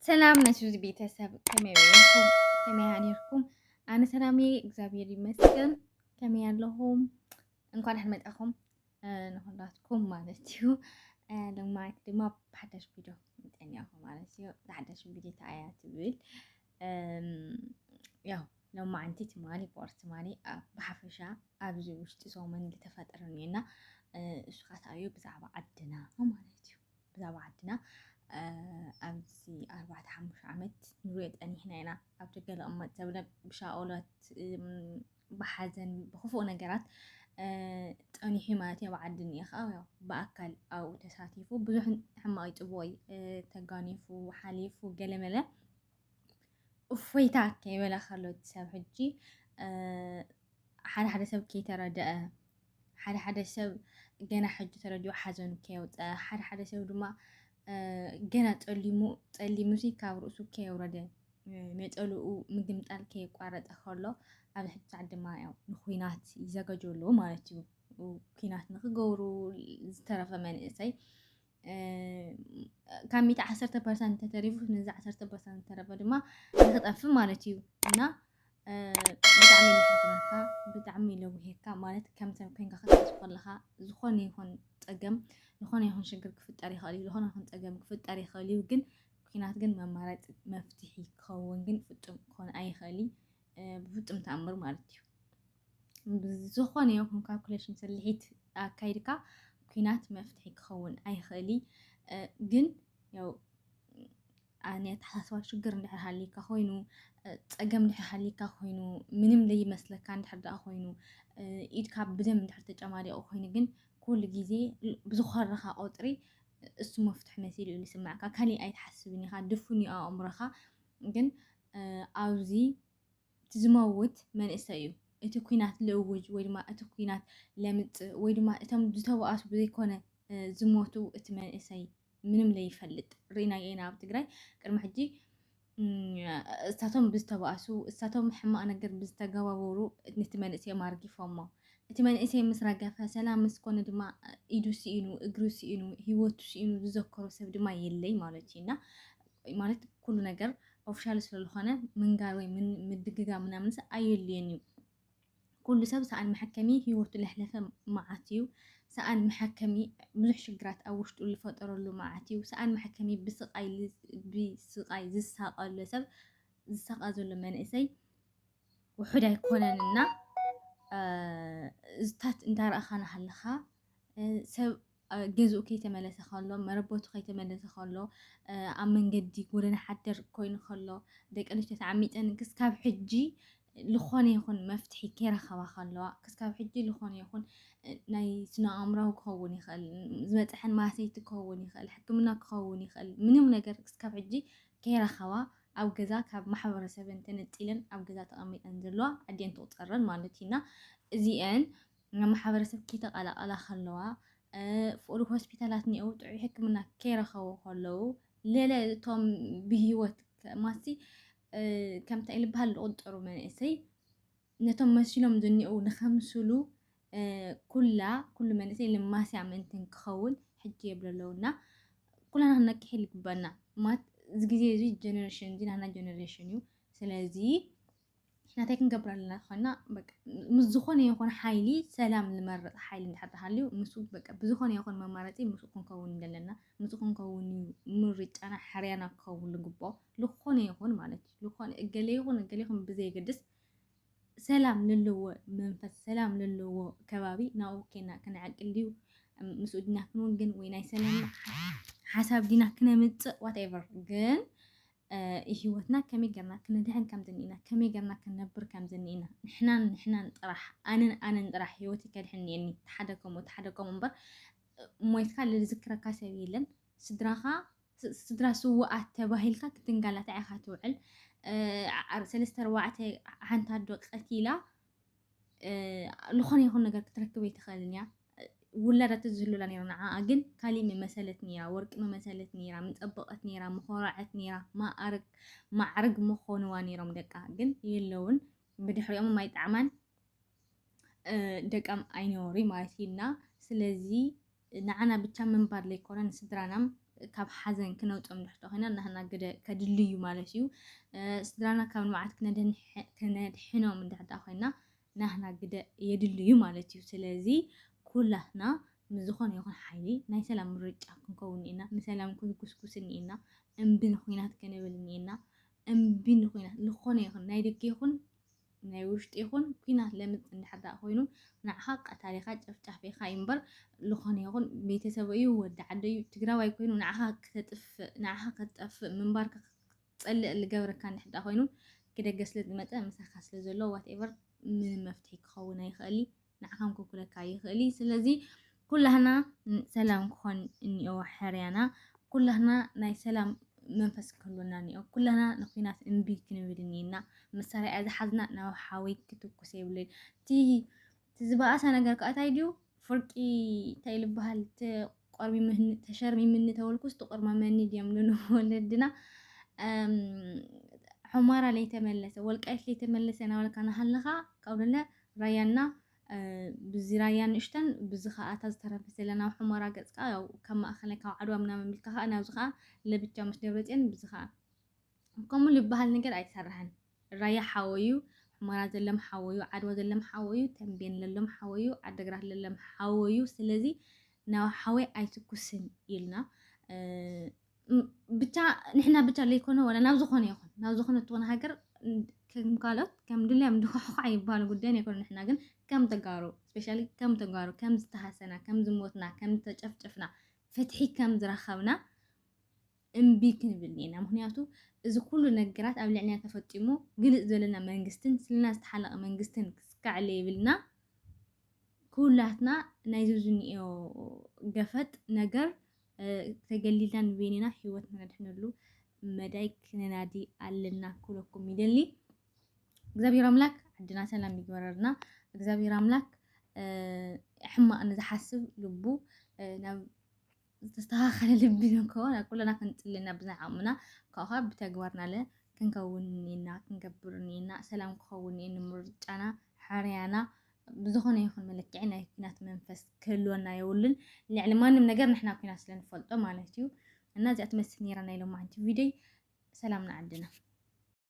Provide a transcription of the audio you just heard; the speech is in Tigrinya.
ሰላም ናይ ሱዚ ቤተሰብ ከመይ ወይንኩም ከመይ ሃኒርኩም ኣነ ሰላም እየ እግዚኣብሔር ይመስገን ከመይ ኣለኹም እንኳን ደሓን መጣኹም ንኹላትኩም ማለት እዩ ልማት ድማ ብሓዳሽ ቪድዮ ምጠኛኹ ማለት እዩ ብሓዳሽ ቪድዮ ተኣያ ትብል ያው ሎማዓንቲ ትማሊ ቦር ትማሊ ብሓፈሻ ኣብዚ ውሽጢ ሰሙን ዝተፈጠረ እኒኦና እሱ ካትኣዩ ብዛዕባ ዓድና ማለት እዩ ብዛዕባ ዓድና ኣብዚ ኣርባዕተ ሓሙሽተ ዓመት ንሪኦ ጠኒሕና ኢና ኣብ ደገ ልቕመጥ ዘብለ ብሻኦለት ብሓዘን ብክፉእ ነገራት ጠኒሑ ማለት ኣብ ዓዲ እኒአ ከዓ ያው ብኣካል ኣብኡ ተሳቲፉ ብዙሕ ሕማቕ ይፅቦይ ተጋኒፉ ሓሊፉ ገለመለ እፎይታ ከይበለ ከሎ እቲ ሰብ ሕጂ ሓደ ሓደ ሰብ ከይተረድአ ሓደ ሓደ ሰብ ገና ሕጂ ተረዲኡ ሓዘኑ ከየውፀአ ሓደ ሓደ ሰብ ድማ ገና ፀሊሙ ፀሊሙ ሲ ካብ ርእሱ ከየውረደ ነፀልኡ ምግምጣል ከየቋረጠ ከሎ ኣብ ሕጂ ሰዓት ድማ ያው ንኩናት ይዘጋጀሉ ማለት እዩ ኩናት ንክገብሩ ዝተረፈ መንእሰይ ካብ ሚእቲ ዓሰርተ ፐርሰንት ተተሪፉ ነዚ ዓሰርተ ፐርሰንት ዝተረፈ ድማ ንክጠፍእ ማለት እዩ እና ብጣዕሚ ለሕዝነካ ብጣዕሚ ለውሄካ ማለት ከም ሰብ ኮይንካ ክትሓዝ ከለካ ዝኾነ ይኹን ፀገም ዝኾነ ይኹን ሽግር ክፍጠር ይኽእል እዩ ዝኾነ ይኹን ፀገም ክፍጠር ይኽእል እዩ ግን ኩናት ግን መማረፂ መፍትሒ ክኸውን ግን ፍፁም ክኾን ኣይኽእል ብፍፁም ተኣምር ማለት እዩ ዝኾነ ይኹን ካልኩሌሽን ስልሒት ኣካይድካ ኩናት መፍትሒ ክኸውን ኣይኽእል ግን ያው ናይ ኣተሓሳስባ ሽግር እንድሕር ሃሊካ ኮይኑ ፀገም እንድሕር ሃሊካ ኮይኑ ምንም ዘይመስለካ እንድሕር ደኣ ኮይኑ ኢድካ ብደም እንድሕር ተጨማሊቑ ኮይኑ ግን ኩሉ ግዜ ብዝኾረኻ ቁፅሪ እሱ መፍትሒ መሲሉ እዩ ዝስማዕካ ካሊእ ኣይትሓስብን ኢኻ ድፉን እዩ ኣእምሮኻ ግን ኣብዚ እቲ ዝመውት መንእሰይ እዩ። እቲ ኩናት ልእውጅ ወይ ድማ እቲ ኩናት ለምፅእ ወይ ድማ እቶም ዝተባኣሱ ብዘይኮነ ዝሞቱ እቲ መንእሰይ ምንም ለይፈልጥ ርኢናዮ ኢና ኣብ ትግራይ ቅድሚ ሕጂ እሳቶም ብዝተባእሱ እሳቶም ሕማቅ ነገር ብዝተገባበሩ ነቲ መንእሰይ ማርጊፎሞ እቲ መንእሰይ ምስ ረገፈ ሰላም ምስ ኮነ ድማ ኢዱ ስኢኑ እግሩ ስኢኑ ሂወቱ ስኢኑ ዝዘከሮ ሰብ ድማ የለይ ማለት እዩ እና ማለት ኩሉ ነገር ኦፍሻል ስለዝኾነ ምንጋር ወይ ምድግጋ ምናምንስ ኣየድልየን እዩ። ኩሉ ሰብ ሰኣን መሐከሚ ህይወቱ ለሕለፈ መዓት እዩ። ሰኣን መሐከሚ ብዙሕ ሽግራት ኣብ ውሽጡ ዝፈጠረሉ መዓት እዩ። ሰኣን መሐከሚ ብስቃይ ብስቃይ ዝሳቀለ ሰብ ዝሳቃ ዘሎ መንእሰይ ውሑድ ኣይኮነን እና እዝታት እንዳረእኻ ናሃለኻ ሰብ ገዝኡ ከይተመለሰ ከሎ፣ መረበቱ ከይተመለሰ ከሎ፣ ኣብ መንገዲ ጎደና ሓደር ኮይኑ ከሎ፣ ደቂ ኣንስትዮ ተዓሚፀን ክስካብ ሕጂ ዝኾነ ይኹን መፍትሒ ከይረኸባ ከለዋ፣ ክስካብ ሕጂ ዝኾነ ይኹን ናይ ስነ ኣእምራዊ ክኸውን ይኽእል፣ ዝበፅሐን ማሰይቲ ክኸውን ይኽእል፣ ሕክምና ክኸውን ይኽእል፣ ምንም ነገር ክስካብ ሕጂ ከይረኸባ ኣብ ገዛ ካብ ማሕበረሰበን ተነፂለን ኣብ ገዛ ተቐሚጠን ዘለዋ ኣዴን ትቑፀረን ማለት እዩና እዚአን ማሕበረሰብ ኪተቐላቐላ ከለዋ፣ ፍቕሪ ሆስፒታላት ኔኡ ጥዑይ ሕክምና ኬረኸቡ ከለዉ፣ ለለ እቶም ብህይወት ማሲ ከምታ ኢልብሃል ልቑጠሩ መንእሰይ ነቶም መሲሎም ዝኔኡ ንኸምስሉ ኩላ ኩሉ መንእሰይ ልማስያ ምእንትን ክኸውን ሕጂ የብሎ ኣለውና ኩላና ክንነቅሕ ይግበና ማት እዚ ግዜ እዚ ጀነሬሽን እዚ ናና ጀነሬሽን እዩ ስለዚ ናተይ ክንገብር ኣለና ኮይና ምስ ዝኾነ ይኹን ሓይሊ ሰላም ዝመረፅ ሓይሊ እንድሕር ሃልዩ ንሱ ብዝኾነ ይኹን መማረፂ ምስ ክንከውን ዘለና ምስ ክንከውን ምርጫና ሕርያና ክኸውን ልግቦ ዝኾነ ይኹን ማለት እዩ ዝኾነ እገለ ይኹን እገለ ይኹን ብዘይገድስ ሰላም ዘለዎ መንፈስ ሰላም ዘለዎ ከባቢ ናብኡ ኬና ክንዕቅል ድዩ ምስኡ ድና ክንውግን ወይ ናይ ሰላም ሓሳብ ድና ክነምፅእ ዋትኤቨር ግን ሂወትና ከመይ ጌርና ክንድሕን ከም ዝኒኢና ከመይ ጌርና ክንነብር ከም ዝኒኢና ንሕናን ንሕናን ጥራሕ ኣነን ኣነን ጥራሕ ሂወተይ ከድሕን እኒኤኒ እቲ ሓደ ከምኡ እቲ ሓደ ከምኡ እምበር ሞይትካ ልዝክረካ ሰብ የለን ስድራኻ ስድራ ስውኣት ተባሂልካ ክትንጋላታዕ ኢኻ ትውዕል ሰለስተ ኣርባዕተ ሓንቲ ኣዶ ቀቲላ ዝኾነ ይኹን ነገር ክትረክብ ኣይትኽእልን እያ ውላዳ ትዝህሉላ ነይሩ ንዓኣ ግን ካሊእ መመሰለት ነይራ ወርቂ መመሰለት ነይራ ምፀበቐት ነይራ ምኾረዐት ነይራ ማዕርግ ማዕርግ ምኾንዋ ነይሮም ደቃ ግን የለውን ብድሕሪኦም ማይጣዕማን ደቃም ኣይነበሩይ ማለት እዩ እና ስለዚ ንዓና ብቻ ምንባር ለይኮነ ንስድራናም ካብ ሓዘን ክነውጽኦም ንሕቶ ኮይና ናህና ግደ ከድሊ እዩ ማለት እዩ። ስድራና ካብ ንብዓት ክነድሕኖም እንድሕር ደኣ ኮይና ናህና ግደ የድሊ እዩ ማለት እዩ። ስለዚ ኩላትና ምስ ዝኾነ ይኹን ሓይሊ ናይ ሰላም ምርጫ ክንከውን እኒኤና፣ ንሰላም ክንጉስጉስ እኒኤና፣ እምቢ ንኹናት ክንብል እኒኤና፣ እምቢ ንኹናት ዝኾነ ይኹን ናይ ደገ ይኹን ናይ ውሽጢ ይኹን ኩናት ለምጽ እንድሕር ደኣ ኮይኑ ንዓኻ ቀታሊኻ ጨፍጫፊኻ እዩ እምበር ዝኾነ ይኹን ቤተሰቡ እዩ ወዲ ዓደ እዩ ትግራዋይ ኮይኑ ንዓኻ ክተጥፍእ ንዓኻ ክትጠፍእ ምንባርካ ክትጸልእ ዝገብረካ እንድሕር ደኣ ኮይኑ ክደገ ስለ ዝመጸ ምሳኻ ስለ ዘሎ ዋትኤቨር ምንም መፍትሒ ክኸውን ኣይኽእል እዩ ንዓኻም ክውክለካ ይኽእል እዩ። ስለዚ ኩላህና ሰላም ክኾን እኒኦ ሕርያና፣ ኩላህና ናይ ሰላም መንፈስ ክህሉና እኒኦ፣ ኩላህና ንኩናት እምቢ ክንብል እኒና፣ መሳርያ ዝሓዝና ናብ ሓዊ ክትኩስ የብለይ። እቲ ዝበኣሰ ነገር ከኣታይ ድዩ ፍርቂ እንታይ ልበሃል ቆርሚምኒ ተሸርሚምኒ ተወልኩስ ትቁርመመኒ ድዮም ልሉ ወለድና ሑማራ ለይተመለሰ ወልቃይት ለይተመለሰ ናበልካ ናሃለኻ ካብኡ ደለ ራያና ብዚ ራያ ንእሽተን ብዚ ከዓ እታ ዝተረፈ ዘለና ኣብ ሑመራ ገፅ ከዓ ያው ካብ ማእኸላይ ካብ ዓድዋ ምናምን ቢልካ ከዓ ናብዚ ከዓ ለብቻ ምስ ደብረፅዮን ብዚ ከዓ ከምኡ ዝበሃል ነገር ኣይተሰርሐን። ራያ ሓወዩ ሑመራ ዘለም ሓወዩ ዓድዋ ዘለም ሓወዩ ተምቤን ለሎም ሓወዩ ዓደግራት ለለም ሓወዩ ስለዚ ናብ ሓወይ ኣይትኩስን ኢልና ብቻ ንሕና ብቻ ለይኮነ ወላ ናብ ዝኾነ ይኹን ናብ ዝኾነ ትኾነ ሃገር ከም ካልኦት ከም ድልያም ድኳዕኳዕ ይባል ጉዳይን ኣይኮነ ንሕና ግን ከም ተጋሩ ስፔሻሊ ከም ተጋሩ ከም ዝተሃሰና ከም ዝሞትና ከም ዝተጨፍጨፍና ፍትሒ ከም ዝረኸብና እምቢ ክንብል ኔና ምክንያቱ እዚ ኩሉ ነገራት ኣብ ልዕልና ተፈጢሙ ግልጽ ዘለና መንግስትን ስልና ዝተሓለቀ መንግስትን ክስካዕ ለይብልና ኩላትና ናይዚ ዝኒኦ ገፈጥ ነገር ተገሊልና ንበይንና ህይወትና ነድሕነሉ መዳይ ክነናዲ ኣለና ክብለኩም ይደሊ። እግዚኣብሔር ኣምላክ ዓድና ሰላም ይግበረልና። እግዚኣብሔር ኣምላክ ሕማቅ ንዝሓስብ ልቡ ናብ ዝተስተኻኸለ ልቢ ንክኸውን ኣብ ኩልና ክንጽሊ እና ብናይ ዓቕምና ካብኡ ከዓ ብተግባርናለ ክንከውን እኒኤና ክንገብር እኒኤና ሰላም ክኸውን እኒኤ ንምርጫና ሕርያና ብዝኾነ ይኹን መለክዒ ናይ ኩናት መንፈስ ክህልወና የብሉን ልዕሊ ማንም ነገር ንሕና ኩናት ስለ ንፈልጦ ማለት እዩ እና እዚኣ ትመስል ነይራ ናይ ሎማዓንቲ ቪድዮይ ሰላም ንዓድና